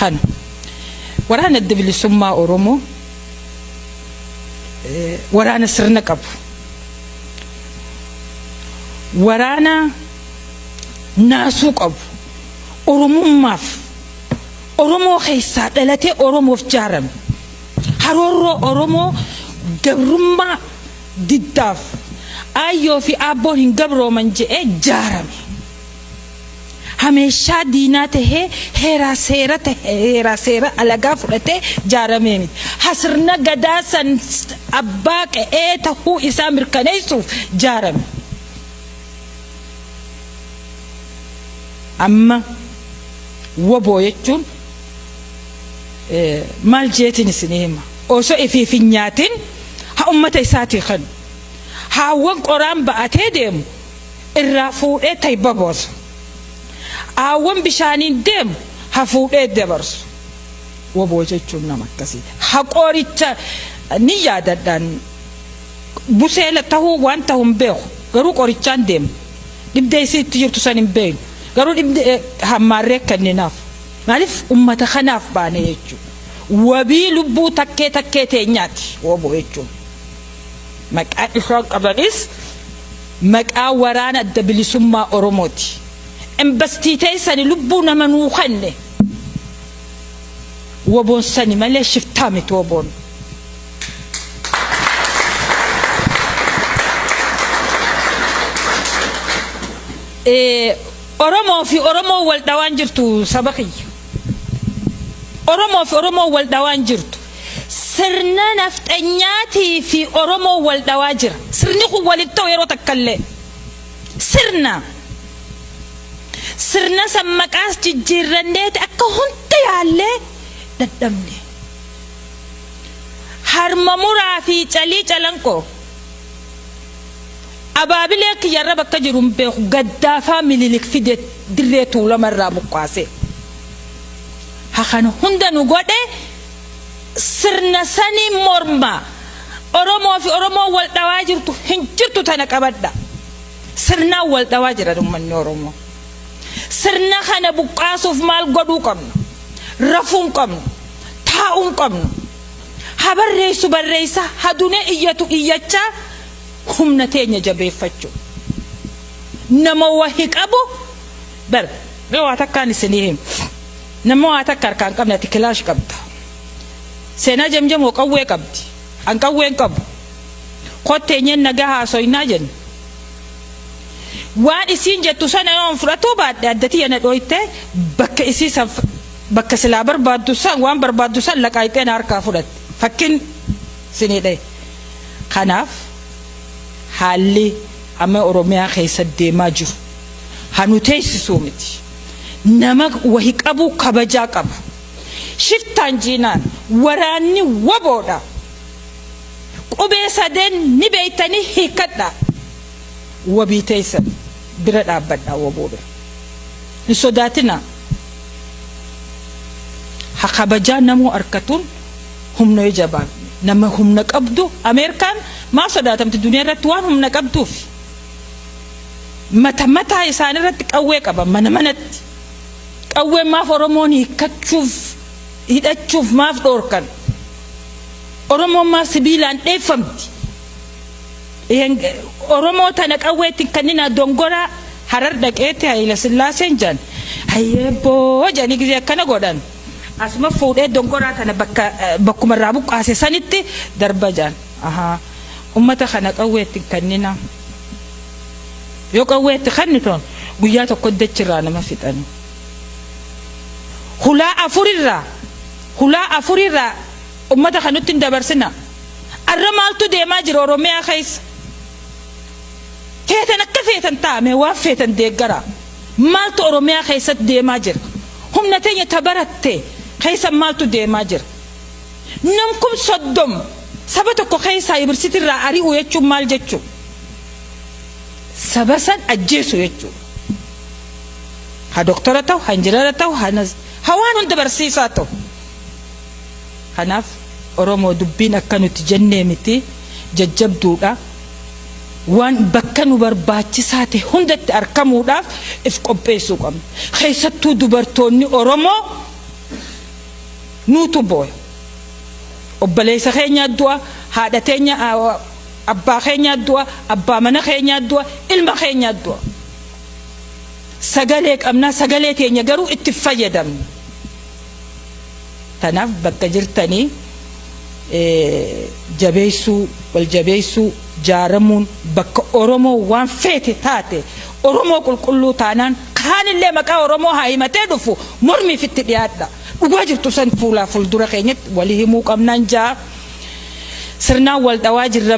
Kan waraana adda bilisummaa Oromoo eh, waraana sirna qabu. Waraana naasuu qabu. Oromummaaf Oromoo keessaa dhalatee Oromoof jaarame. Haroorroo Oromoo gabrummaa diddaaf aayyoo fi aabboon hin gabrooman je'ee jaarame. hameeshaa diinaa tahee heeraa seera tahe heeraa seera alagaa fudhatee jaaramee miti. Ha sirna gadaa san abbaa qe'ee tahuu isaa mirkaneessuuf jaarame. Amma wbo jechuun maal jeetiin isinii hima osoo ifiif hin nyaatin ha ummata isaatii kanu haawwan qoraan ba'atee deemu irraa fuudhee tayba boosa. Aawwan bishaaniin deemu ha fuudhee dabarsu. Waboo jechuun nama akkasii. Ha qoricha ni yaadadhaan buseela tahuu waan tahu hin beeku. Garuu qorichaan deema. Dhibdee isii itti jirtu san hin beeynu. Garuu dhibdee hammaarree kenninaaf. Maaliif ummata kanaaf baane jechuu. Wabii lubbuu takkee takkee teenyaati waboo jechuun. Maqaa isaan qabanis. Maqaa waraana adda bilisummaa oromooti embastii teessani lubbuu nama nuu kenne woboon sani malee shiftaa miti woboon. Oromoo fi oromoo wal dhawaan jirtu saba kiyya oromoo fi oromoo wal dhawaan jirtu. Sirna nafxanyaatii fi Oromoon wal dhawaa jira. Sirni kun wal hin ta'u yeroo takka illee. Sirna. Sirna san maqaas jijjiirranneeti akka hunda yaallee dadhabne. Harma muraa fi calii calanqoo. Abaabilee kiyya irra bakka jiru hin beeku gaddaafaa mililik fide dirree tuulama irraa buqqaasee. Ha kana hunda nu godhe sirna saniin morma Oromoo fi Oromoon wal dhawaa jirtu hin jirtu tana qabadha. Sirnaan wal dhawaa jira uummanni Oromoo. Sirna kana buqqaasuuf maal godhuu qabnu? Rafuu hin qabnu. Taa'uu hin qabnu. Ha barreessu barreessa, ha dunee iyyatu iyyachaa humna teenya jabeeffachuu. Nama wahi qabu bar mee waa takkaan isinii himu. Nama waa takka harkaa hin qabne ati kilaash qabda. Seenaa Jamjamoo qawwee qabdi. An qawwee hin qabu. Kot teenyeen nagaa haasoynaa jenna. Waan isiin jettu sana yoon fudhatuu baadhe adda tiyya na dhooytee bakka isii san bakka silaa barbaaddu san waan barbaaddu san laqaayxee na harkaa fudhatte. Fakkin sinii dhahe. Kanaaf haalli amma Oromiyaa keessa deemaa jiru ha nu teessisuu miti. Nama wahi qabuu kabajaa qabu shiftaan jiinaan waraanni wbo dha qubee sadeen ni beeytanii hiikkadhaa wabii teeysan bira dhaabbadhaa wbo bira hin sodaatinaa ha kabajaa namuu arkatuun humnoe jabaan nama humna qabdu ameerkaan maa sodaatamti duniyaa irratti waan humna qabduufi. mata mataa isaanii irratti qawwee qaban mana manatti qawwee maaf oromoon hiikkachuuf hidhachuuf maaf dhoorkan oromoon maaf sibiilaan dheeffamti oromoo tana qawweetti kannina dongoraa harar dhaqeetti hayila sillaaseen jedhan hayyeebboo jedhanii gisee akkana godhan asuma fuudhee dongoraa tana bakka bakkuma irraa buqqaase sanitti darba jedhan Ahaa. Ummata kana qawwee itti hin kanninaa. Yoo qawwee itti kannitan guyyaa tokkotti dachi irraa nama fixani. Hulaa afur irraa hulaa afur irraa ummata kana nutti hin dabarsinaa. Arra maaltu deemaa jira Oromiyaa keessa? Feetan akka feetan ta'a mee waan feetan deeggaraa. Maaltu Oromiyaa keessatti deemaa jira? Humna teenya ta baratte keessa maaltu deemaa jira? Nam kum soddom saba tokko keessaa yuniversitii irraa ari'u jechuun maal jechuu? Saba san ajjeesu jechuu. Ha doktora ta'u, ha injinara ta'u, ha nas- ha waan hunda barsiisaa ta'u. Kanaaf Oromoo dubbiin akka nuti jennee miti jajjabduudha. Waan bakka nu barbaachisaa ta'e hundatti argamuudhaaf if qopheessuu qabna. Keessattuu dubartoonni Oromoo nuutu booya. Obboleessa keenyaa du'a, haadha teenya, abbaa keenyaa du'a, abbaa mana keenyaa du'a, ilma keenyaa du'a. Sagalee qabnaa sagalee teenya garuu itti hin fayyadamnu. Tanaaf bakka jirtanii jabeessuu, wal jabeessuu, jaaramuun bakka Oromoo waan feete taate Oromoo qulqulluu taanaan Kaanillee maqaa Oromoo haa himatee dhufu mormiif itti dhiyaadha. Dhugaa jirtu san fuulaa fuldura keenyatti wali himuu qabnaan jaa sirnaan wal dhawaa jirra.